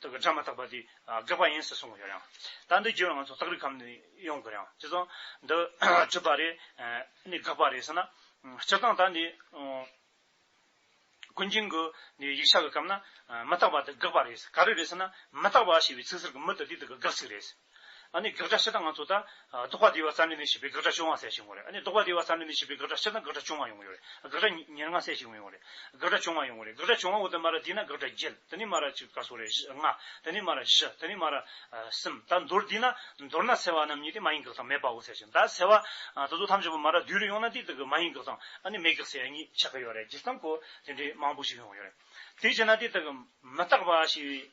དུ་གི་སྒྲ་མ་དག་པ་དེ་དགག་པ་ཡིན་ཟེར་གསུངས་ཡོད་རང། ད་འདི་རྒྱུད་ལ་ང་ཚོ་སྟག་རི་ཁམས་ནས་ཡོང་དགོས་རང་ཅི་གསུང། འདི་གྲུབ་པ་རེད། ནི་དགག་པ་རེད་ཟེར་ན། སྤྱིར་བཏང་ད་ནི། ཀུན་མཁྱེན་གི་ནི་ཡིག་ཆ་གི་སྐབས་ན། མི་རྟག་པ་དེ་དགག་པ་རེད་ཟེར་ག་རེ་རེད་ཟེར་ན། མི་རྟག་པ་ཞེས་པའི་ཚིག་ཟེར་གི་མི་དེ་དེ་དག་གི་དགག་ཚིག་རེད་ཟེར། ཨ་ནི་བགེགས་དགྲ་ཕྱི་དང་ང་ཚོ་ད། ཟློག་པ་བདེ་བ་རྩ་ནི་མི་ཤིགས་པའི་བགེགས་དགྲ་བཅོ་ལྔ་སེལ་ཞིག་ཡོང་རེད་ཨ་ནི་ཟློག་པ་བདེ་བ་རྩ་ནི་མི་ཤིགས་པའི་བགེགས་དགྲ་ཕྱི་དང་བགེགས་དགྲ་བཅོ་ལྔ་ཡོང་གི་ཡོད་རེད་བགེགས་དགྲ་ཉེར་ལྔ་སེལ་ཞིག་ཡོང་ཡོང་རེད་བགེགས་དགྲ་བཅོ་ལྔ་ཡོང་གི་རེད་བགེགས་དགྲ་བཅོ་ལྔ་འོག་ཏུ་སྨ་ར་དེ་ན་བགེགས་དགྲ་བརྒྱད་དེ་ནས་སྨ་ར་གཅིག་ག་སོ་རེད་བཞི་ལྔ་དེ་ནས་སྨ་ར་བཞི་དེ་ནས་སྨ་ར། གསུམ་ད་མདོར་དེ་ན་མདོར་ན་སེལ་བ་རྣམས་གཉིས་དེ་མ་ཡིན་བགེགས་དང་མེད་པའོ་སེལ་ཞིག་ད་སེལ་བ། ད་གཟུགས་ཐམས་ཅད་པོ་སྨ་ར་བདུན་རེ་ཡོང་ན་དེ་དག་གི་མ་ཡིན་བགེགས་དང་ཨ་ནི་མེད་བགེགས་སེལ་ཡ་གཉིས་ཆགས་ཀྱི་ཡོད་རེད་བརྗེད་སྟངས་སྐོར་དེ་འདྲའི་མང་པོ་ཞིག་ཡོང་གི་ཡོད་རེད་དེ་བྱས་ན་དེ་དག་གི་མི་རྟག་པ་ཞིག་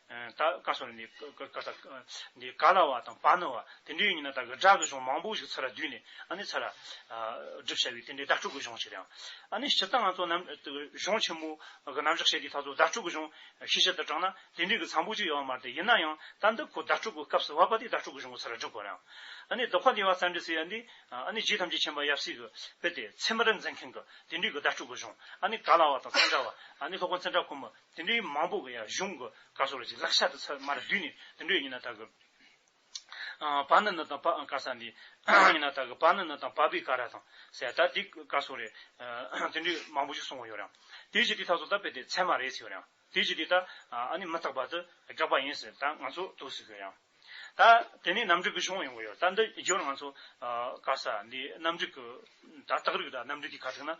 ད་ག་སོང་ནི་ག་ད་འདི་ག་ན་བ་དང་བ་ན་བ་དེ་འདྲའི་ཡིན་ན་ད་གི་སྒྲ་གི་གཞུང་མང་པོ་ཞིག་ཚ་ལ་བསྡུས་ནས་ཨ་ནི་ཚ་ལ་སྒྲུབ་བྱ་བའི་དེ་འདྲའི་བརྡ་སྤྲོད་གི་གཞུང་ཞིག་རེད་ཨང། ཨ་ནི་སྤྱིར་བཏང་ང་ཚོ་རྣམས་གཞུང་ཆེན་མོ་གི་རྣམ་གཞག་བཤད་དུས་ད་གཟོད་བརྡ་སྤྲོད་གི་གཞུང་ཤེས་བྱ་ལྟར་དྲངས་ན་དེ་འདྲའི་གི་ཚ་པོ་ཅིག་ཡོད་པ་མ་རེད་ཡིན་ན་ཡང་ད་འདི་ཁོ་བརྡ་སྤྲོད་གི་སྐབས་སུ་བ་བ་དེའི་བརྡ་སྤྲོད་གི་གཞུང་གི་ཚ་ལ་སྒྲུབ་དགོས་རེད་ཨང། ཨ་ནི་རྡོ་ཁ་འདི་བ་ཙམ་འདྲི་སའི་འདི་ཨ་ནི་རྗེ་ཐམས་ཅད་མཁྱེན་པ་ཡབ་སྲས་ཀྱི་དཔེ་དེ་ཚེ་སྨི་ར་འཛིན་མཁན་གྱི་དེ་འདྲའི་གི་བརྡ་སྤྲོད་གི་གཞུང་ཨ་ནི་ག་ལ་བ་དང་ཚན་འདྲ་བ་ཨ་ནི་ལྷོ་ཁ་ཚན་འདྲ་ཁོ་མི་དེ་འདྲའི་མང་པོ་གི་ཡང་གཞུང་གི་བཀའ་སྲོལ་ལ་ཅིག་ལག་ཤར་དུ་ཚད་མར་བསྡུས་ནས་དེ་འདྲའི་ཉི་ན་དག་གི། བ་ནི་ནི་དང་བ་ཨང་ཀ་ས་འདི། ཉི་ན་དག་གི་བ་ནི་ནི་དང་བ་བི་ཀ་ར་དང་སེ་ད་དེ་བཀའ་སྲོལ་རེ། དེ་འདྲའི་མང་པོ་ཞིག་གསུང་བ་ཡོད་རང། དེའི་ཕྱིར་དེ་དག་ཚོ་ད་དཔེ་དེ་ཚད་མ་རེད་ཟེར་ཡོད་རང། དེའི་ཕྱིར་དེ་དག་ཨ་ནི་མི་རྟག་པ་དུ་དགག་པ་ཡིན་ཟེར་ད་ང་ཚོ་ཐུགས་ཟེར་ཡོད་རང། ད་དེ་ནས་རྣམ་རིག་གི་གཞུང་ཡོང་གི་ཡོད། ད་འདི་བརྗོད་ན་ང་ཚོ་དཀའ་ས་འདི་རྣམ་རིག་གི་ད་རྟགས་རིགས་དང་རྣམ་རིག་གི་ཁ་ཐུག་ན་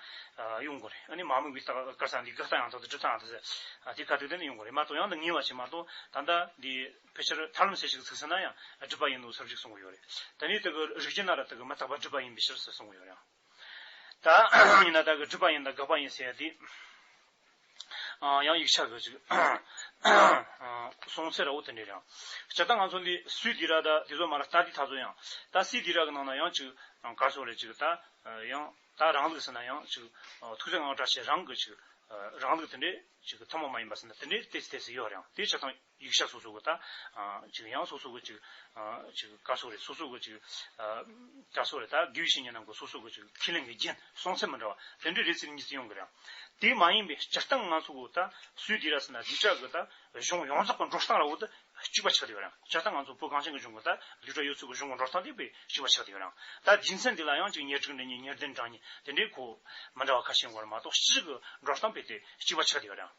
ཡོང་དགོས་རེད། འདི་མ་དམིགས་པའི་རྟགས་དཀའ་ས་འདི་དགག་རྟགས་ཡང་དག་དང་སྒྲིབ་རྟགས་ཡང་དག་དེ་ཁ་ཐུག་དེ་ཡོང་གི་རེད་མ་གཏོགས་ཡང་དག་ངེས་བ་ཞིག་མ་གཏོགས་ད་ལྟ་འདི་ཕལ་ཆེར་ཐར་ལམ་ཟེར་ཞིག་ཚུགས་ཟིན་ན་ཡང་སྒྲིབ་པ་ཡིན་ནོ་ཟེར་བ་ཞིག་གསུང་གི་ཡོད་རེད། དེ་ནས་དེ་གི་རིགས་ཀྱི་ནང་ལ་དེ་གི་མི་རྟག་པ་སྒྲིབ་པ་ཡིན་པའི་ཕྱིར་ཟེར་གསུང་གི་ཡོད་ཡང། ད་ཡིན་ན་བདག་གི་སྤྲུལ་པ་ཡིན་ད་དགག་པ་ཡིན་ཟེར་ཡ་དེ། ཡང་ཡིག་ཆ་བོད་ཅིག། སོང་ཚེ་ར་འུ་དེ་འདྲས་རང། བྱ་ད་ང་ཚོ་འདི་སུའི་དེ་ར་ད་དེ་ཚོ་མ་ར་ད་དེ་ད་ཚོ་ཡང། ད་སི་དེ་ར་གི་ནང་ན་ཡང་ཅིག་གར་སོང་རེད་ཅིག་ད། ཡང་ད་རང་ལུགས་ཟེར་ན་ཡང་ཅིག། ཐུགས་རྗེ་ངང་བཀྲ་ཤིས་རང་གི་ཅིག། རང་ལུགས་དེ་འདྲས་ཅིག་ཐུན་མོང་མ་ཡིན་པ་ཟེར་ན་དེ་འདྲས་ཏེ་ཚེ་ཚེ་ཡོད་རང་དེ་བྱ་ད། ཡིག་ཆ་སོ་སོ་གི་དང། གཅིག་དབྱངས་སོ་སོ་གི་གཅིག། གཅིག་ཀ་སོགས་རེད་སོ་སོ་གི་གཅིག། ཀ་སོགས་རེད་ད་དགེ་བཤེས་གཉིས་རྣམས་ཀྱི་སོ་སོ་གི་གཅིག་ཁས་ལེན་གྱི་རྒྱན་སྲོང་ཚད་མི་འདྲ་བ་དེ་འདྲའི་རེ་ཚིག་གཉིས་རྩིས་ཡོང་གི་རེད། དེ་མ་ཡིན་པའི་སྤྱིར་བཏང་ང་ཚོ་གི་ད་སུའི་སྡེ་ར་ཟེར་ན་བསྡུས་གྲྭ་གི་ད་གཞུང་ཡོངས་རྫོགས་གི་འགྲོ་སྟངས་ར་བོ་ད་གཅིག་པ་ཆགས་བསྡད་ཡོད་རང་སྤྱིར་བཏང་ང་ཚོ་བོད་གངས་ཅན་གི་གཞུང་གི་ད་བསྡུས་གྲྭ་ཡོད་ཚུལ་གྱི་གཞུང་གི་འགྲོ་སྟངས་དེ་བས་གཅིག་པ་ཆགས་བསྡད་ཡོད་རང་ད་རྒྱུ་མཚན་དེ་ལ་ཡང་གཅིག་ཉེར་དྲུག་འདི་གཉིས་ཉེར་བདུན་གྲངས་གཉིས་དེ་འདྲའི་གོ་མི་འདྲ་བ་ཁ་ཤས་ཡོང་གི་རེད་མ་གཏོགས་སྤྱིར་གི་འགྲོ་སྟངས་བས་དེ་གཅིག་པ་ཆགས་བསྡད་ཡོད་རང།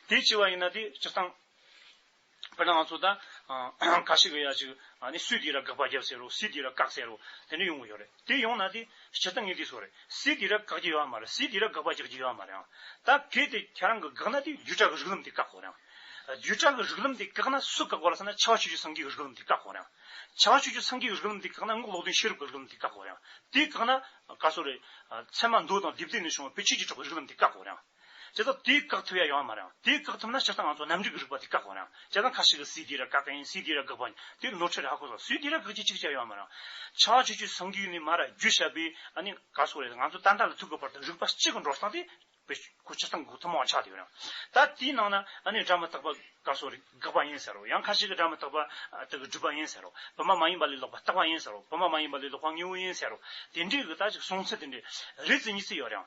དེ་བྱས་པ་ཡིན་ན་དེ་སྤྱིར་བཏང། དཔེར་ན་ང་ཚོ་ད། ཀ་ཤི་ཀ་ཡ་ཅིག། ནི་སུས་དེ་ར་དགག་པ་བརྒྱབ་ཟེར་རོ་སུས་དེ་ར་བཀག་ཟེར་རོ། དེ་འདྲ་ཡོང་གི་ཡོད་རེད། དེ་ཡོང་ན་དེ། སྤྱིར་བཏང་ངས་དེ་བཟོ་རེད། སུས་དེ་ར་བཀག་རྒྱུ་ཡོད་མ་རེད་སུས་དེ་ར་དགག་པ་རྒྱག་རྒྱུ་ཡོད་མ་རེད་ཨང། ད་གལ་ཏེ་ཁྱེད་རང་གི་དགག་ན་དེ་བརྒྱུད་བསྒྲགས་ཀྱི་རིགས་ལམ་དེ་བཀག་གོ་རེད་ཨང། བརྒྱུད་བསྒྲགས་ཀྱི་རིགས་ལམ་དེ་བཀག་ན་སུ་བཀག་པ་ལ་ཟེར་ན་ཕྱི་བ་ཆོས་བརྒྱུད་སངས་རྒྱས་ཀྱི་རིགས་ལམ་དེ་བཀག་གོ་རེད་ཨང། ཕྱི་བ་ཆོས་བརྒྱུད་སངས་རྒྱས་ཀྱི་རིགས་ལམ་དེ་བཀག་ན་སྔགས་ལོག་འདོན་ཤེས་རབ་ཀྱི་རིགས་ལམ་དེ་བཀག་གོ་རེད་ཨང། དེ་བཀག་ན། ག་སོ་རེད། ཚད་མ་མདོ་དང་སྡེབ་སྡེབ་ནས་བྱུང་བ་བེད་སྤྱོད་ཀྱིས་གྲགས་པའི་རིགས་ལམ་དེ་བཀག་གོ་རེད་ཨང། བྱས་ཙང་དེ་བཀག་ཐུབ་ཡ་ཡོང་བ་མ་རེད། དེ་བཀག་ཐུབ་ན་ཕྱིར་ད་ང་ཚོ་གནམ་གྲུའི་རིག་པ་དེ་བཀག་དགོས་རེད། བྱས་ཙང་ཁ་ཞིག་གི་སུས་དེ་ར་བཀག་གིན་སུས་དེ་ར་བཀག་པ་དེ་ནོར་འཁྲུལ་རེད་ཧ་གོ་སོང་སུས་དེ་ར་བཀག་ཅི་ཅིག་བྱས་ཡོང་བ་མ་རེད། ཆགས་ཆོད་ཆོད་སངས་རྒྱུའི་ནི་མ་ར་རྒྱུ་ཞབས་པའི་ཨ་ནི་ག་སོག་རེད་ང་ཚོ་ཏན་ཏན་ལ་ཐུག་གི་བར་དུ་རིག་པ་གཅིག་གི་འགྲོ་སྟངས་དེ་བེད་སྤྱོད་ཕྱིར་ད་གུག་ཐུབ་མ་འོང་ཆགས་དེ་ཡོད་རེད། ད་དེའི་ནང་ན་ཨ་ནི་སྒྲ་མི་རྟག་པ་ག་སོག་རེད་དགག་པ་ཡིན་ཟེར་རོ་ཡང་ཁ་ཞིག་གི་སྒྲ་མི་རྟག་པ་དག་གི་སྒྲུབ་པ་ཡིན་ཟེར་རོ་བི་མ་མ་ཡིན་པ་ལས་ལོག་པ་རྟག་པ་ཡིན་ཟེར་རོ་བི་མ་མ་ཡིན་པ་ལས་ལོག་པ་དངོས་བོ་ཡིན་ཟེར་རོ་དེ་འདྲའི་གི་ད་ཅིག་གསུང་ཚུལ་དེ་འདྲའི་རེ་ཚིག་གཉིས་ཚིག་ཡོད་རེད།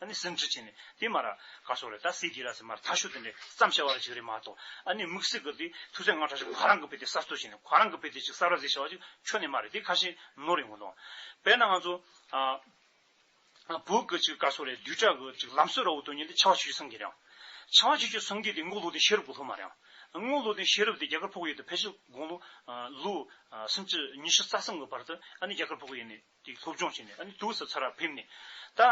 ཨ་ནི་སེམས་ཁྲལ་བྱས་ནས་དེ་མ་ར་ག་སོགས་རེད་ད་སྲིད་དགེ་ར་སེ་མ་ར་ཐ་ཤོ་དེ་འདྲས་བརྩམ་བྱ་བ་ར་ཅིག་རེད་མ་གཏོགས་ཨ་ནི་དམིགས་བསལ་གི་དེ་ཐུགས་སེམས་ང་ཁྲ་ཅིག་ཁོ་རང་གི་བེད་དེ་གསར་གཏོད་བྱས་ནས་ཁོ་རང་གི་བེད་དེ་ཅིག་གསར་བ་ཟེ་བྱ་བ་ཅིག་ཆོ་ནི་མ་རེད་དེ་ཁ་ཤེ་ནོ་རེད་ངོ་ཏོ། བེད་ན་ང་ཚོ་ཨ་བུ་གི་ཅིག་ག་སོགས་རེད་དུས་ཁྲ་གི་ཅིག་ལམ་སྲོད་ར་བུ་དོན་གཉེར་དེ་ཆ་བ་ཆུ་ཆུ་སང་གི་རེད་ཨང། ཆ་བ་ཆུ་ཆུ་སང་གི་དེ་དངུལ་ལོ་དེ་ཤེས་རབ་གི་ལྷུ་མ་རེད་ཨང། དངུལ་ལོ་དེ་ཤེས་རབ་དེ་རྒྱ་གར་ཕོག་ཡོད་དུ་ཕལ་ཆེར་དགུང་ལོ་ལོ་སུམ་ཅུ་ཉི་ཤུ་རྩ་གསུམ་གི་བར་དུ་ཨ་ནི་རྒྱ་གར་ཕོག་གི་ཡོད་ནི་དེ་སློབ་སྦྱོང་བྱས་ནས་ཨ་ནི་ཏུའུ་སི་ཚ་རར་ཕེབས་ནས། ད།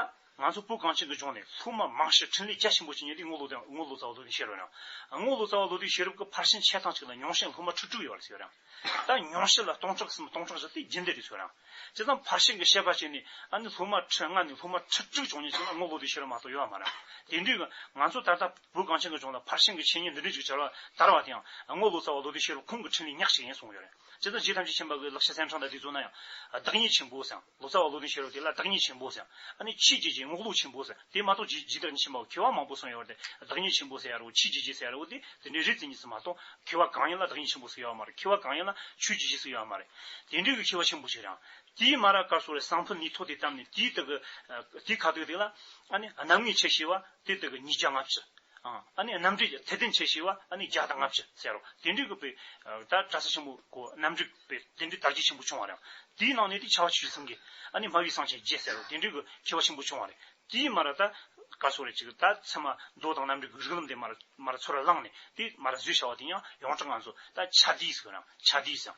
ང་ཚོ་སྤུ་རྐང་ཆེན་དུ་བྱོན་ནས་ལྷུ་མ་མང་ཞིང་འཕྲིན་ལས་རྒྱ་ཆེན་པོ་བྱས་ནས་དེ་སྔོ་ལོ་དང་སྔོ་ལོ་ཙཱ་བ་ལོ་དེ་ཤེས་རོགས་གནང། སྔོ་ལོ་ཙཱ་བ་ལོ་དེ་ཤེས་རབ་ཀྱི་ཕར་ཕྱིན་ཆད་ཐང་ཅིག་ལ་ཉུང་ཤས་ལྷུ་མ་ཁྲི་དྲུག་ཡོད་པ་ལ་ཤེས་རོགས་གནང། ད་ཉུང་ཤས་ལ་སྟོང་ཕྲག་གསུམ་སྟོང་ཕྲག་བཞི་སྟེ་རྒྱུན་ལྡན་དུ་ཤོད་རོགས་གནང། ཇི་ཙམ་ཕར་ཕྱིན་གྱི་ཤེས་པ་བྱས་ནས་ཨ་ནི་ལྷུ་མ་ཁྲི་ལྔ་ནས་ལྷུ་མ་ཁྲི་དྲུག་བྱུང་ཉིན་ཅིག་ན་སྔོ་ལོ་དེ་ཤེས་རབ་མ་གཏོགས་ཡོད་པ་མ་རེད། དེ་དུས། ང་ཚོ་ད་ལྟ་སྤུ་རྐང་ཆེན་དུ་བྱོན་ལ་ཕར་ཕྱིན་གྱི་ཆོས་ཉིད་འདི་འདྲ་ཅིག་བྱ་བར་དར་བ་དེའང་སྔོ་ལོ་ཙཱ་བ་ལོ་དེ་ཤེས་རབ་ཁོང་གི་འཕྲིན་ལས་ཉག་ཅིག་ཡིན་གསུངས་ཡོད་རེད། སྤྱི་ཚོགས་སྤྱི་ཐམས་ཅད་ཁྱིམ་པ་ཀུན་ལག་ཤ་ཟན་འཕྲང་དང་དེ་ཚོ་ན་ཡང། བདག་ཉིད་ཆེན་པོ་ཟེང། ལོ་ཙཱ་བ་ལོ་ཏིང་ཤེས་རབ་དེ་ལ་བདག་ཉིད་ཆེན་པོ་ཟེང། ཨ་ནི་ཕྱིས་རྗེས་ཀྱི་རྔོག་ལུག་ཆེན་པོ་ཟེང། དེ་མ་གཏོགས་ཇི་ཇི་ལྟར་ཁྱིམ་པ་ཁྱོད་བ་མང་པོ་སོང་ཡོད་པ་དེ་བདག་ཉིད་ཆེན་པོ་ཟེར་ཡ་རོ་ཕྱིས་རྗེས་ཀྱི་ཟེར་ཡ་རོ་དེ་དེ་འདྲའི་རིགས་ཙི་གཉིས་སུ་མ་གཏོགས། ཁྱོད་བ་གང་ཡིན་ལ་བདག་ཉིད་ཆེན་པོ་སུ་ཡོད་མ་རེད་ཁྱོད་བ་གང་ཡིན་ལ་ཆོས་ཇི་བཞིན་སུ་ཡོད་མ་རེད། དེ་འདྲའི་གི་ཁྱོད་བ་ཆེན་པོ་ཞིག་རང། དེའི་མ་ར་ཀར་སོ་རའི་སང་ཕུ་ནི་ཐོ་དེ་བཏམས་ནས་དེའི་དེ་གི། དེའི་ཁ་དོག་དེ་ལ། ཨ་ནི། གནམ་ངའི་ཆེ་ཤེས་བ། དེ་དེ་གི་ཉིས་བརྒྱ་ལྔ་བཅུ། ཨཱ་ནི་རྣམ་འགྲེལ་གྱི་ཚད་ལྡན་ཆེ་ཞེས་པ་ཨཱ་ནི་བརྒྱ་དང་ལྔ་བཅུ་ཟེར་རོ། དེ་འགྲེལ་གྱི་པའི་ད་གྲ་ས་ཆེན་པོ་གོ་རྣམ་འགྲེལ་པའི་དེ་འགྲེལ་དར་རྒྱས་ཆེན་པོ་བྱུང་བ་རེད། དེའི་ནང་ནས་ཏེ་ཆ་བ་ཆུ་བཞི་གསུམ་གྱི་ཨཱ་ནི་སྨྲ་བའི་གསང་ཆེན་བརྒྱད་ཟེར་རོ་དེ་འགྲེལ་གྱི་ཆེ་བ་ཆེན་པོ་བྱུང་བ་རེད། དེའི་མར་ར་ད་ག་ཚོ་རེ་ཅིག་ད་ཚད་མ་མདོ་དང་རྣམ་འགྲེལ་གྱི་རིགས་ལམ་དེ་མར་མར་ར་ཚོ་ར་བླངས་ནས་དེ་མར་ར་བཟོས་བྱ་བ་དེ་ཡང་ཡོངས་གྲགས་ང་ཚོ་ད་ཆ་དེའི་ཟེར་རམ་ཆ་དེའི་ཟེར།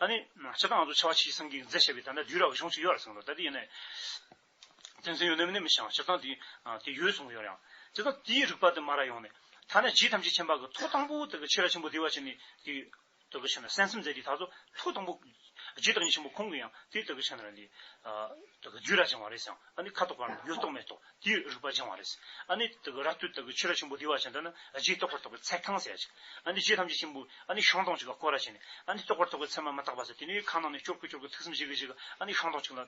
ཨཱ་ནི་སྤྱིར་ད་ང་ཚོ་ཆ་བ་ཆུ་བཞི་གསུམ་གྱི་མཛད་བྱས་པའི་ད་ད་དུས་ར་བ་གཞུང་ཚིག་ཡོད་རེ་ཟུང་རོ་ད་དེ་ཡིན་ནའི། ཏིང་འཛིན་ཡོད་ནི་མི་ནི་མི་ཤེས་ཨང་སྤྱིར་བཏང་དེ་དེ་ཡོད་སོང་ཡོད་རེད་ཨང། སྤྱིར་བཏང་དེའི་རིགས་པ་དེ་མ་རག་ཡོང་ནི། ཐ་ན་རྗེ་ཐམས་ཅད་མཁྱེན་པ་གི་ཐུགས་དང་པོ་དེ་གི་ཕྱིར་ར་ཆེན་པོ་དེ་བ་ཆེན་ནི་དེ་དེ་གི་ཕྱིར་ན་སེམས་སེམས་ཙེ་དེ་ད་གཟོད་ཐུགས་དང་པོ། རྗེ་བདག་ཉིད་ཆེན་པོ་ཁོང་གི་ཡང་དེ་དེ་གི་ཕྱིར་ན་ནི། དེ་གི་རྒྱུད་ར་ཆེན་བ་རེད་ཨང་ཨ་ནི་ཁ་དོག་པར་ནི་ཡོད་རྟོག་མེད་རྟོག་དེའི་རིགས་པ་སྦྱང་བ་རེད། ཨ་ནི་དེ་གི་ར་སྟོད་དེ་གི་ཕྱིར་ར་ཆེན་པོ་དེ་བ་ཆེན་དེ་ནི་རྗེས་རྟོགས་པར་དོགས་པའི་ཚད་གང་ཟེར་ཡ་ཅིག། ཨ་ནི་རྗེ་ཐམས་ཅད་ཆེན་པོ་ཨ་ནི་ཤོང་སྟོང་གཅིག་ལ་བསྐོར་ར་བྱས་ནས་ཨ་ནི་རྟོགས་པར་དོགས་པའི་ཚད་མ་མ་བརྟགས་པ་ཟེར་དེ་ནི་གང་ན་ནི་སྐྱོ་དགུ་སྐྱོ་དགུ་ཐུགས་སེམས་ཞི་གི་ཞི་གི་ཨ་ནི་ཤོང་སྟོང་གཅིག་ལ།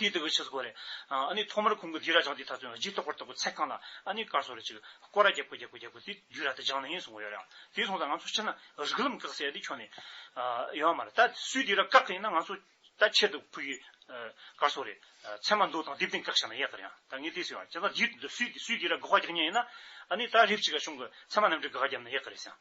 དེ་ལྟ་བུའི་ཕྱིར་སྒོ་རེ། ནི་ཐོག་མར་གུང་གི་དུས་ར་སྦྱངས་དེའི་མཐར་ཚོན་གྱིས་རྟོགས་པར་གཏོགས་པའི་ཚད་བསྐངས་ལ། ནི་དཀར་སོ་རེ་གཅིག། སྐོར་ར་བརྒྱད་པོ་བརྒྱད་པོ་བརྒྱད་པོ་དེ་དུས་ར་དེ་སྦྱངས་ནས་ཡིན་གསུང་བ་ཡོད་རེད་ཨང། དེ་སོང་ཙང་ང་ཚོ་ཕྱིར་ན་རིགས་ལམ་བཀག་ཟེར་ཡ་དེ་ཁྱོན་ནས། ཡོད་ཨ་མ་རེད། ད་སུས་དེ་ར་བཀག་གི་ཡིན་ན་ང་ཚོ། ད་ཁྱེད་དུ་ཕུལ་གི། དཀར་སོ་རེ། ཚད་མ་མདོ་དང་དེབ་སྟེང་བཀག་བཞག་ན་ཡག་གི་རེད་ཨང། ད་ངས་དེ་ཟེར་བ། ཁྱེད་ཚང་དེའི་སུས་དེ་ར་དགག་བ་རྒྱག་ཉན་ཡིན་ན། ནི་ད་རེབ་གཅིག་ག་གཞུང་གི་ཚད་མ་རྣམས་ཀྱི་དགག་བརྒྱབ་ན་ཡག་གི་རེད་སེང།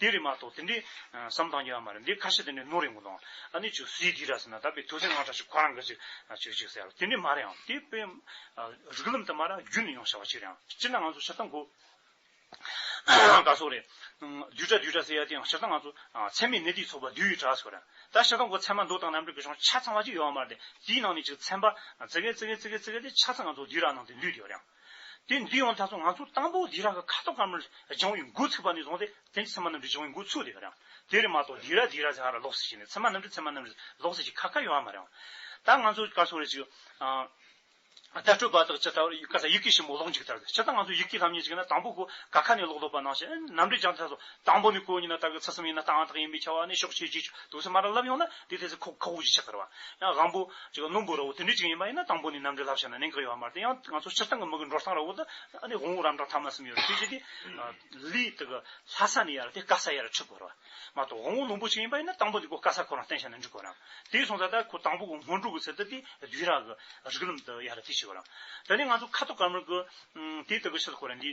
དེ་རེད་མ་གཏོགས་དེ་འདྲའི་བསམ་སྟངས་ཡོད་ཨ་མ་རེད་འདི་ཁ་ཤས་དེ་འདྲའི་ནོར་རེད་མགོ་ལོག་ཨ་ནི་ཆུ་སྲིའི་དུས་ར་ཟེར་ན་ད་པའི་དུས་ཚོད་སྔ་དྲག་ཞིག་ཁོ་རང་གི་ཅིག་ཆོས་ཅིག་ཟེར་དེ་འདྲའི་མ་རེད་ཨང་དེ་དཔེ་རིགས་ལམ་དུ་མ་ར་རྒྱུད་ནས་ཡོང་བྱ་བ་ཅིག་རེད་ཨང་སྤྱིར་ན་ང་ཚོ་ཤ་ཚ་མགོ་དགའ་ཚོ་རེད་དུས་དྲ་དུས་དྲ་ཟེར་ཡ་དེའང་ཤ་ཚ་ང་ཚོ་ཚད་མའི་གནས་དེའི་ཚོགས་པ་དུས་ཡུལ་དྲ་ཟེར་བ་རེད་ད་ཤ་ཚ་མགོ་ཚད་མ་མདོ་དང་རྣམ་གྲོལ་གྱི་གཞུང་ཆ་ཚང་བ་ཅིག་ཡོད་ཨ་མ་རེད་དེའི་ནང་ནས་ཅིག་ཚན་པ་ཙི་གེ་ཙི་གེ་ཙི་གེ་ཙི་གེ་དེ་ཆ་ཚང་ང་ཚོ་དུས་ར་ནང་དུ་འདུས་ཡོད་རེད་ཨང། དེ་འདི་ཡང་ད་སོང་ང་ཚོ་དང་པོ་དེ་ར་གི་ཁ་དོག་དཀར་མོར་སྦྱང་བའི་འགོ་ཚུགས་པ་ནས་བཟུང་སྟེ་དེ་ཚེར་མ་རྣམ་འགྲེལ་སྦྱང་བའི་འགོ་ཚུགས་དེ་རང་དེ་རེད་མ་གཏོགས་དེ་ར་དེ་ར་ཟེར་ཡང་ལོགས་སུ་ཞིག་ནས་ཚེར་མ་རྣམ་འགྲེལ་ཚེར་མ་རྣམ་འགྲེལ་ལོགས་སུ་ཞིག་ཁ་ཁ་ཡོང་ཡ་མ་རེད། ད་ང་ཚོ་སྐར་ཚོགས་རེ་ཅིག་ཨ། ད་སྤྲོད་པ་དག་ཅི་ལྟ་བུར་སྐར་ཚ་ཡིག་གེ་ཞིབ་མོ་ཀློག་འཇུག་ལྟར་ཏེ་ཇི་ལྟར་ང་ཚོ་ཡིག་གེ་ལྷམ་གཉིས་ཅིག་ན་དང་པོ་གོ་ག་ཁ་ནས་ཀློག་ལྡོག་པ་གནང་བཞིན་རྣམ་འགྲེལ་སྦྱང་ཐ་སོགས་དང་པོ་ནི་ཀོ་ཉི་ན་དག་གི་ཚུལ་གསུམ་ཡིན་ན་རྟའང་དག་ཡིན་པའི་ཆ་བ་ནི་ཕྱོགས་ཆོས་རྗེས་དུག་གསུམ་མ་རང་བསླབ་ཡོང་ན་དེའི་ཐད་ཚེ་ཁོག་ཁོག་བཞི་ཆགས་ཁར་བ། ཡང་གང་པོ། རྣོན་པོ་ར་བོ་དེ་འདྲའི་གཅིག་ཡིན་པ་ཡིན་ན་དང་པོ་ནི་རྣམ་འགྲེལ་ལྷ་བཤད་ན་གནད་འགག་ཡོད་པ་མ་རེད་དེ་ཡང་ང་ཚོ་སྤྱིར་བཏང་གི་མི་གི་འགྲོ་སྟངས་ར་བོ་དུ་ཨ་ནི་དབང་བོ་རམ་གྲངས་ཐ་མ་གསུམ་ཡོད་རེད་དེ་བཞི་དེ། ལི། དག་གི་ལྷ་ས་ནི་ཡར་དེ་ཀ་ས་ཡར་ཁྲི་ཁོ་ར་བ། མ་གཏོགས་དབང་བོ་རྣོན་པོ་གཅིག་ཡིན་པ་ཡིན་ན་དང་པོ་འདི་ཀོ་ཀ་ས་ཁོ་རང་བསྟན་བྱ་ན་འགྲིག་གོ་རམ། དེའི་གསུང་ཚ་དག་ཁོ་དང་པོ་གི་སྔོན་འགྲོ་གི་ཚེ་དུ་དེ་བདུད་ར་གི་རིགས་ལམ་དུ་ཡར་དེ་བྱེད་གོ་རམ། དེ་ནས་ང་ཚོ་ཁ་དོག་དཀར་དམར་གི། དེའི་དག་གི་ཕྱི་དུ་ཁོ་ར་འདི།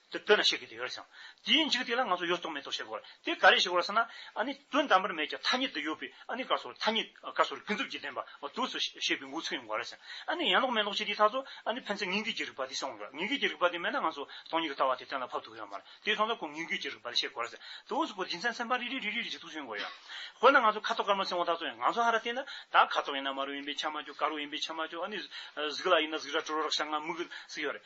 དེ་བསྟོད་ན་ཤེས་དགོས་དེ་ཡོད་རེད་བསམ། དེའི་འཇིག་རྟེན་ལ་ང་ཚོ་ཡོད་རྟོགས་མེད་རྟོགས་བྱེད་དགོས་རེད། དེ་ག་རེ་ཞིག་རོ་བསམ་ན། ཨ་ནི་དོན་དམ་པར་མེད་ཀྱང་ཐ་སྙད་དུ་ཡོད་པའི་ཨ་ནི་ཀ་སོགས་ཐ་སྙད་ཀ་སོགས་རིགས་ཀུན་རྫོབ་ཀྱི་བདེན་པ་དུས་སུ་ཤེས་པའི་འགོ་ཚུགས་ཡོང་དགོས་རེད་བསམ། ཨ་ནི་ཡན་ལོག་མན་ལོག་བྱེད་དེའི་ཐག་གཅོད་ཨ་ནི་ཕན་ཚུན་ངན་སྐུལ་གྱི་རིགས་པ་དེ་སེམས་དབང་གི་ངན་སྐུལ་གྱི་རིགས་པ་དེ་མེད་ན་ང་ཚོ་སྟོང་ཉིད་ཀྱི་ལྟ་བ་དེ་གཏན་ལ་ཕབ་ཐུབ་ཀྱི་ཡོད་མ་རེད་དེའི་དོན་ལ་ཁོང་ངན་སྐུལ་གྱི་རིགས་པ་དེ་ཤེས་དགོས་རེད་བསམ། དུས་སུ་ཁོ་སྦྱིན་སྲེག་མཚན་པ་རེ་རེ་རེ་རེ་རེ་ཞིག་ཐུགས་སུ་ཡོང་དགོས་ཡོད། དཔེར་ན་ང་ཚོ་ཁ་དོག་དཀར་མོ་སེམས་དབང་ཐག་གཅོད་ཡིན་ང་ཚོ་ཧ་ར་བལྟས་ན། ད་ཁ་དོག་ཡིན་ན་དམར་རོ་ཡིན་པས་ཆ་མ་འཇོག་དཀར་རོ་ཡིན་པས་ཆ་མ་འཇོག་ཨ་ནི་གཟུགས་ལ་ཡིན་ན་གཟུགས་ར་དྲོ་རོ་རག་ཤ་ང་མུག་གི་ཟིག་ཡོད་རེད།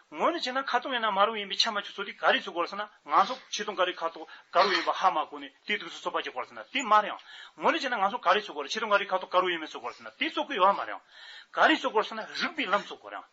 ངོས་ནས་བྱས་ན་ཁ་སྟོང་ཡིན་ན་མ་རུངས་ཡིན་པའི་ཆ་མ་ཆུ་ཚོད་དེ་ག་རེས་ཚུགས་དགོས་ལ་ཟེར་ན་ང་ཚོ་ཆེ་སྟོང་ག་རེས་ཁ་དོག་ག་རུ་ཡིན་པ་ཧ་མ་གོ་ནས་དེ་དུས་སུ་ཚོད་དཔག་བྱེད་དགོས་ལ་ཟེར་ན་དེ་མ་རེང། ངོས་ནས་བྱས་ན་ང་ཚོ་ག་རེས་ཚུགས་དགོས་ལ་ཆེ་སྟོང་ག་རེས་ཁ་དོག་ག་རུ་ཡིན་མིན་ཚུགས་དགོས་ལ་ཟེར་ན་དེ་ཚུགས་དགོས་ཡོད་མ་རེང། ག་རེས་ཚུགས་དགོས་ལ་ཟེར་ན་རིགས་པའི་ལམ་ཚུགས་དགོས་རེང།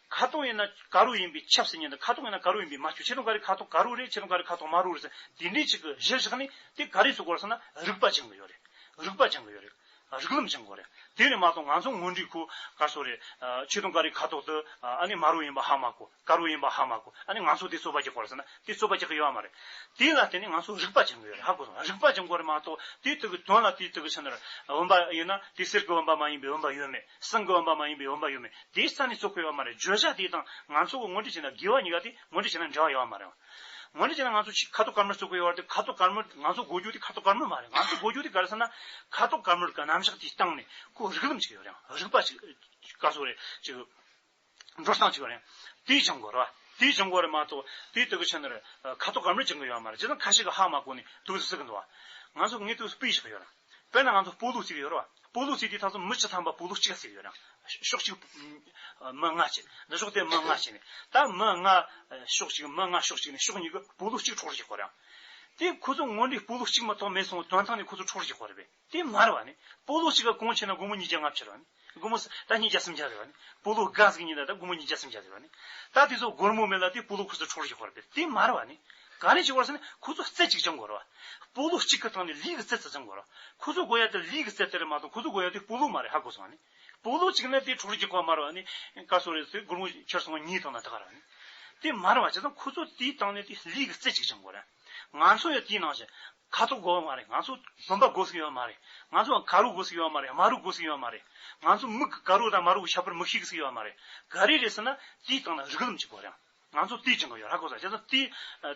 ཁ་སྟོང་ཡིན་ན་ག་རུ་ཡིན་པའི་ཆབ་སྲིད་ཉན་དང་ཁ་དོག་ཡིན་ན་ག་རུ་ཡིན་པའི་མ་ཆུ་ཆེ་སྟོང་ག་རེས་ཁ་དོག་ག་རུ་རེད་ཆེ་སྟོང་ག་རེས་ཁ་དོག་མ་རུ་རེད་ཟེར་ན་དེ་འདྲའི་ཆེད་དུ་གཞིར་བཞག་ནས་དེ་ག་རེས་ཚུགས་དགོས་ལ་ཟེར་ན་རིགས་པ་སྦྱང་གི་ཡོད་རེད་རིགས་པ་སྦྱང་གི་ཡོད་རེད། རིགས་ལམ་སྦྱང་གོ་རེད། དེ་ནི་མ་གཏོགས་ང་ཚོ་ངོས་འདྲིས་ཁུ་དཀར་ཚོ་རེད། ཆེ་མཐོང་ཀ་རི་ཁ་ཐོག་ཏུ་ཨ་ནི་དམར་བོ་ཡིན་པ་ཧ་མ་གོ་དཀར་བོ་ཡིན་པ་ཧ་མ་གོ་ཨ་ནི་ང་ཚོ་དེ་རྩོད་པ་རྒྱག་གོ་རེད་ཟེར་ན་དེ་རྩོད་པ་རྒྱག་གི་ཡོད་ཨ་མ་རེད། དེ་ལ་བརྟེན་ནས་ང་ཚོ་རིག་པ་སྦྱང་གི་ཡོད་རེད་ཧ་གོ་སོང་རིག་པ་སྦྱང་གོ་རེད་མ་གཏོགས་དེའི་དོན་གྱི་དོན་ལ་དེའི་དོན་གྱི་ཕྱི་ནང་རེད། འོན་པ་ཡིན་ན་དེ་གསེར་གྱི་འོན་པ་མ་ཡིན་པའི་འོན་པ་ཡོད་མེད་ཟངས་ཀྱི་འོན་པ་མ་ཡིན་པའི་འོན་པ་ཡོད་མེད་དེའི་རྩ་ནས་རྩོད་གོ་ཡོད་ཨ་མ་རེད་བརྗོད་བྱ་དེ་དང་ང་ཚོ་གི་ངོས་འདྲིས་བྱེད་ན་དགེ་བ་ཉེས་བ་དེ་ངོས་འདྲིས་བྱེད་ན་འདྲ་བ་ཡོད་ཨ་མ་རེད། ངོ་ནས་བྱས་ན་ང་ཚོ་ཁ་ཐུག་དཀར་མོར་བཙུགས་པའི་དབར་དུ་ཁ་ཐུག་དཀར་མོ་ང་ཚོ་གོ་རྒྱུ་དེ་ཁ་ཐུག་དཀར་མོ་མ་རེད་ང་ཚོ་གོ་རྒྱུ་དེ་ག་རེ་ཟེར་ན་ཁ་ཐུག་དཀར་མོར་ག་རྣམ་གཞག་དེའི་སྟེང་ནས་ཁོ་རིགས་ལམ་ཅིག་ཡོད་རེང་རིགས་པ་ཅིག་བཀའ་ཟུར་རེད་ཅིག་ཡོད་འགྲོ་སྟངས་ཅིག་ཡོད་རེང་དེའི་བྱང་སྒོ་རེད་བ་དེའི་བྱང་སྒོ་རེད་མ་གཏོགས་དེའི་སྟེང་གི་ཆ་ནས་ཁ་ཐུག་དཀར་མོར་བྱེད་མཁན་ཡོད་མ་རེད་བྱས་ཙང་ཁ་ཤས་ཀྱི་ཧ་མ་གོ་ནས་དུག་རྫི་བསྲེག་གི་འདུག་བ་ང་ཚོ་དངོས་དུག་སྤུས་ཞིག་ཡོད་རེང། དཔེར་ན་ང་ཚོ་སྤོ་ལུགས་གཅིག་ཡོད་རེད་བ། སྤོ་ལུགས་གཅིག་དེའི་ཐག་ཚོད་མི་ཆི་ཐམ་པ་སྤོ་ལུགས་གཅིག་ལ་ཟེར་ཡོད་རང། ཕྱོགས་གཅིག་མི་ལྔ་བྱས། འདི་ཕྱོགས་དེ་མི་ལྔ་བྱས་ནས། ད་མི་ལྔ་ཕྱོགས་གཅིག་མི་ལྔ་ཕྱོགས་གཅིག་ནས་ཕྱོགས་གཉིས་ཀྱི་སྤོ་ལུགས་གཅིག་འཕྲོག་རེ་བྱེད་དགོས་རེད་ཨང། དེ་ཁོ་ཚོ་ངོ་འདྲིས་སྤོ་ལུགས་གཅིག་མ་གཏོགས་མེད་སོང་དོན་དག་ནི་ཁོ་ཚོ་འཕྲོག་རེ་བྱེད་དགོས་རེད་པས། དེ་མ་རེད་བ་ནི། སྤོ་ལུགས་གཅིག་ག་གོང་ཆེ་ན་དགོང་མོ་གཉིས་བརྒྱ་ལྔ་བྱེད་རེད་བ་ནི། སྒོར་མོ་ད་ཉིས་བརྒྱ་སུམ་བརྒྱ་རེད་བ་ནི། སྤོ་ལོ་སྒང་ཟིག་ཉིན་ད་ད་སྒོར་མོ་ཉིས་བརྒྱ་སུམ་བརྒྱ་རེད་བ་ནི། ད་དེ་ཚོ་སྒོར་མོ་མེད་ལ་དེ་སྤོ་ལོ་ཁུ་ཚུར་འཕྲོག་རུ་ཤོག་བར་བེད་དེ་མ་རེད་བ་ནི། ག་རེ་བྱེད་བར་སོང་ནི་ཁུ་ཚུར་རྩེ་གཅིག་ཅང་དགོས་རེད་བ། སྤོ་ལོ་གཅིག་གི་སྟེང་ནས་ལིས་ཀྱི་རྩེ་རྩེ་ཙམ་དགོས་རེད་བ། ཁུ་ཚུར་སྒོ་ཡ་དེར་ལིས་ཀྱི་རྩེ་དེ་རེད་མ་གཏོགས་ཁུ་ཚུར་སྒོ་ཡ་དེ་སྤོ་ལོ་མ་རེད་ཧ་གོ་སོང་བ་ནི། སྤོ་ལོ་གཅིག་ན་དེ་འཕྲོག་རུ་ཤོག་གོ་མ་རེད་བ་ནི། ག་སོང་རེད་དེ་སྒོར་མོ་ཁྱེར་སོང་བ་ཉིས་སྟོང་ན་ད་ག་རེད་བ་ནི། དེ་མ་རེད་བ་བྱས་ཙང་ཁུ་ཚུར་དེའི་སྟེང་ནས་དེ་ལིས་ཀྱི་རྩེ་གཅིག་ཅང་དགོས་རེད། ང་ཚོ་ཡང་དེའི་ནང་ཞིག། ཁ་ཚུགས་དགོས་ཡོད་མ་རེད། ང་ཚོ་བུམ་པ་དགོས་སུ་ཡོད་མ་རེད། ང་ཚོ་ཡང་ག་རུ་དགོས་སུ་ཡོད་མ་རེད། མ་རུ་དགོས་སུ་ཡོད་མ་རེད། ང་ཚོ་མིག་གི་ག་རུ་དང་མ་རུ་གི་ཤ་ཕུར་མིག་ཤིག་སུ་ཡོད་མ་རེད། ག་རེ་རེད་ཟེར་ན། དེའི་སྟེང་ན་རིགས་ལམ་གྱི་སྐོར་ཡང། ང་ཚོ་དེའི་སྤྱི་འགོ་ཡོད་ཧ་གོ་ས་རེད། དེ་ཚོ་དེ་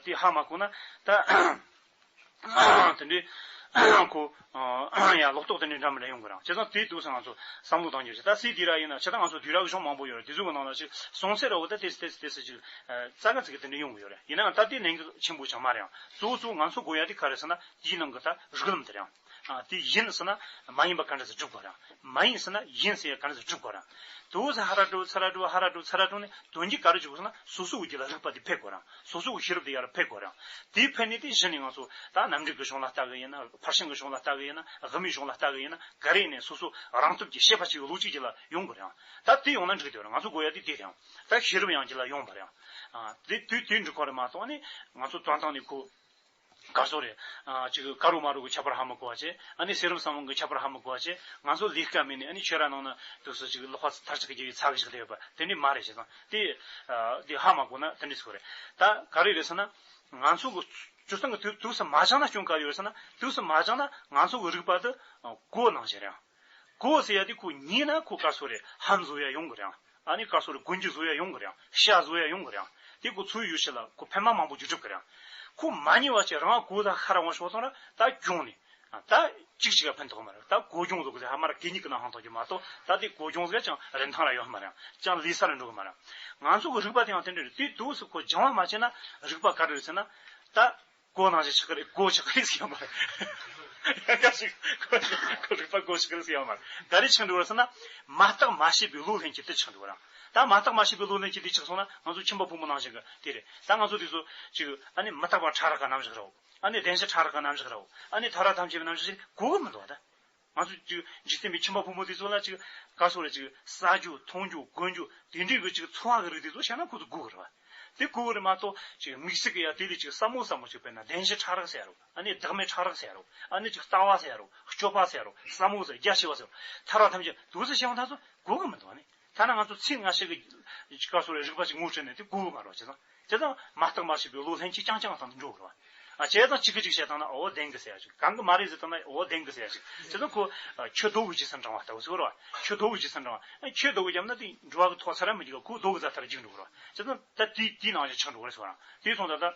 དེ་ཧ་མ་གོ་ན། ད། དེ་འདྲའི། ཁོ། ཡང་ལོག་རྟོག་དེ་འདྲའི་འདྲ་མིན་རེ་ཡོང་གི་རང་བྱས་ཙང་དེའི་དུས་སུ་ང་ཚོ་བསམ་བློ་གཏང་རྒྱུ་ཞིག་ད་སྲིད་དེ་ར་ཡིན་ན་ཕྱི་ད་ང་ཚོ་དུས་ར་གི་གཞུང་མང་པོ་ཡོད་རེད་དེ་ཚོའི་གི་ནང་ལ་ཅིག་སོང་ཚེ་ར་བོ་ད་དེ་སྲིད་དེ་སྲིད་དེ་སྲིད་ཅིག་རྩ་ཁ་ཚིག་གི་དེ་འདྲ་ཡོང་གི་ཡོད་རེད་ཡིན་ནའང་ད་དེ་ནན་གི་ཆེན་པོ་ཆགས་མ་རེད་ཨང་གཙོ་བོ་གཙོ་བོ་ང་ཚོ་དགོས་ཡ་དེ་ག་རེད་ཟེར་ན་དེའི་ནང་གི་ད་རིག་ལམ་དེ་རེད་ཨང་དེ་ཡིན་ཟེར་ན་མ་ཡིན་པ་ག་འདྲ་ཟེར་སྒྲུབ་དགོས་རེད་ཨང་མ་ཡིན་ཟེར་ན་ཡིན་ཟེར་ཡ་ག་འདྲ་ཟེར་སྒྲུབ་དགོས་རེད་ཨང་དེ་བོ་ཟེར་ཧ་ར་སྒྲུབ་ཚ་ར་སྒྲུབ་ཧ་ར་སྒྲུབ་ཚ་ར་སྒྲུབ་ནས་དོན་གྱི་ག་རེ་བྱུག་གི་ཟེར་ན་སོ་སོའི་དབུས་ཀྱི་ལ་རིག་པ་དེ་འཕེལ་དགོས་རེད་ཨང། སོ་སོའི་ཤེས་རབ་དེ་ཡར་འཕེལ་དགོས་རང། དེ་འཕེལ་ནས་དེ་གཞི་ནས་ང་ཚོ། ད་ནམ་གྲུ་གི་གཞུང་ལ་ལྟ་གི་ཡིན་ན། ཕར་ཕྱིན་གྱི་གཞུང་ལ་ལྟ་གི་ཡིན་ན། དབུ་མའི་གཞུང་ལ་ལྟ་གི་ཡིན་ན། ག་རེ་ཡིན་ནས་སོ་སོ། རང་སྟོབས་ཀྱིས་ཤེས་པ་གཅིག་གི་ལུགས་གཅིག་གྱི་ལ་ཡོང་དགོས་རང། ད་དེ་ཡོང་ན་འགྲིག་དེ་རང་ང་ཚོ་དགོས་ཡ་དེ་དེ་རང། ད་ཤེས་རབ་ཡང་གྱི་ལ་ཡོང་དགོས་རང། དེ་དུས་དེ་འགྲིག་གོ་རེ་མ་གཏོགས་ནི། ང་ཚོ་དོན་དང་ནི་གོ། དགའ་བསུ་རེད། གཅིག་གི་ཀ་རུ་མ་རུ་གི་ཁྱད་པར་ཧ་མི་གོ་བ་བཅས། ཨ་ནི་སེ་རུམ་སང་བོང་གི་ཁྱད་པར་ཧ་མི་གོ་བ་བཅས། ང་ཚོ་ལིས་ཀ་མིན་ནས་ཨ་ནི་ཆོས་ར་ནང་ན་དུས་སུ་གཅིག་གི་ལོག་པ་ཚར་གཅིག་གི་རྒྱུ་ཡིས་ཚག་གི་ཞིག་ལས་ཡོད་པ་དེ་འདྲི་མ་རེད་བྱས་སང་དེ། དེ་ཧ་མ་གོ་ན་དེ་འདྲི་ཚོད་རེད། ད་ག་རེ་རེད་ས་ན། ང་ཚོ་གི་སྤྱོད་སྟངས་གི་དུས་སུ་མ་སྦྱངས་ན་སྐྱོན་ག་རེ་ཡོད་རེད་ས་ན་དུས་སུ་མ་སྦྱངས་ན་ང་ཚོ་གི་རིག་པ་དུ་གོ་ནང་བཞིན་རེད་ཨང། ཀུའོ་ཟེར་ཡ་དེ་ཁོ་ཉིད་ན་ཁོ་ཀ་སོ་རེ་ཧན་བཟོ་ཡ་ཡོང་གི་རེང་ཨ་ནི་ཀ་སོ་རེ་དགུན་གྱི་བཟོ་ཡ་ཡོང་གི་རེང་ཤ་བཟོ་ཡ་ཡོང་གི་རེང་དེ་ཁོ་ཚོའི་ཡུལ་ཞིག་ལ་ཁོ་ཕན་མ་མང་པོ་རྒྱུ་གྲུབ་གི་རེང་ཁོ་མ་ཉེ་བ་ཅིག་རང་ཨ་ཀོའུ་ད་ཧ་ར་ཝང་ཤོག་ཚང་ར་ད་གྱོང་ནི་ད་ཅིག་ཅིག་ཨ་ཕན་ཐོག་མ་རེད་ད་ཀོའུ་གྱོང་བཟོ་གི་ཟེ་ཧ་མ་ར་གད་སྙིགས་གི་ནང་ཧང་ཐོག་གི་མ་གཏོགས་ད་དེ་ཀོའུ་གྱོང་བཟོ་ཡ་ཅང་རིན་ཐང་ར་ཡོད་ཧ་མ་རེང་ཅང་ལི་ས་ར་འགྲོ་གི་མ་རེང་ང་ཚོ་གི་རིག་པ་དེའང་དེ་འདྲ་རེད་དུས་དུས་སུ་ཁོ་སྦྱང་བ་མ་བྱས་ན་རིག་པ་ག་འདྲ་རེད་ཟེར་ན་ད། ཀོ་ནང་བཞིན་ཆགས་ཀྱི་རེད་ཀོ་ཆགས་ཀྱི་རེད་ཟེར་ཡོད་མ་རེད། ཡང་སྐབས་ཤིག་ཁོ་རེ་ཁོ་རེ་པར་ཀོ་ཆགས་ཀྱི་རེད་ཟེར་ཡོད་མ་རེད། ད་རེས་ཆགས་འགྲོ་བ་རེད་ཟེར་ན། མ་བརྟགས་མ་ཤེས་པའི་བློ་ལྷན་སྐྱེས་དེ་ཆགས་འགྲོ་བ་རང། ད་མ་བརྟགས་མ་ཤེས་པའི་བློ་ལྷན་སྐྱེས་དེ་ཆགས་སོང་ན་ང་ཚོ་ཁྱིམ་པ་ཕོ་མོ་ནང་བཞིན་གྱི་དེ་རེད། ད་ང་ཚོ་དེ་ཚོ་ཅིག་ཨ་ནི་མི་རྟག་པ་ཕྲ་རགས་ཀྱི་རྣམ་གཞག་རེའོ། ཨ་ནི་བདེན་བཞི་ཕྲ་རགས་ཀྱི་རྣམ་གཞག་རེའོ། ཨ་ནི་ཐ་རགས་ཐམས་ཅད་པའི་རྣམ་གཞག་ཅིག་གོ་གི་མི་འདུག་བ་ད། ང་ཚོ་འཇིག་རྟེན་པའི་ཁྱིམ་པ་ཕོ་མོ་དེ་ཚོ་ལ་ཅིག་ག་སོགས་ལ་ཅིག་ཟ་རྒྱུ་འཐུང་རྒྱུ་གོན་རྒྱུ་དེ་འདྲའི་གི་ཅིག་འཚོ་བ་གི་རིགས་དེ་ཚོ་བཤད་ན་ཁོ་ཚོ་སྒུག་གི་རེད་བ། དེ་སྒུག་གི་རེད་མ་གཏོགས་ཅིག་དམིགས་བསལ་གི་ཡ་དེ་ལས་ཅིག་སྲབ་མོ་སྲབ་མོ་ཅིག་དཔེར་ན་བདེན་བཞི་ཕྲག་རག་ཟེར་རོ། ཨ་ནི་བདག་མེད་ཕྲག་རག་ཟེར་རོ། ཨ་ནི་ཅིག་རྩ་བ་ཟེར་རོ། སྐྱོ་བ་ཟེར་རོ། སྲབ་མོ་ཟེར་རོ་རྒྱ་ཆེ་བ་ཟེར་རོ། ཐར་བ་ཐམས་ཅད་དུག་ཟེར་བཤད་མ་ཐག་ཚོ་སྒུག་གི་མི་འདུག་བ་ནི། ཐ་ན་ང་ཚོ་ཚིག་སྔ་ཕྱི་གི་སྐབས་སུ་རིག་པ་ཅིག་ངོ་སྤྲོད་ནས་དེ་ཀུན་དགའ་རོགས་བྱེད་ན། དེ་དང་མ་བརྟགས་མ་ཤེས་པའི་བློ་ལྷན་ཅིག་རྐྱང་རྐྱང་དང་འགྲོགས་རོགས། བྱས་དང་ཅིག་གི་ཅིག་བྱས་དང་ན་འོ་བདེན་གི་ཟེར་ཡ་ཅིག་གང་གི་མ་རེད་ཟེར་དང་ན་འོ་བདེན་གི་ཟེར་ཡ་ཅིག་བྱས་དང་ཁོ། ཁྱོད་རྡོ་བུ་ཇི་སྲིད་འབྲང་བ་ལྟ་བུ་ཟེར་རོགས། ཁྱོད་རྡོ་བུ་ཇི་སྲིད་འབྲང་བ། ཁྱོད་རྡོ་བུ་བརྒྱབ་ན་དེ་འགྲོ་བ་གི་ཐོག་ཚར་ར་མི་འགྱིག་ག་ཁོ་རྡོ་གི་རྫ་ཐར་འགྱིག་འགྲོ་རོགས། བྱས་དང་ད་དེ་དེའི་ནང་བཞིན་ཆགས་འགྲོ་གི་རེད་ཟེར་བ་རང་དེའི་ཐོག་ད་ལྟ།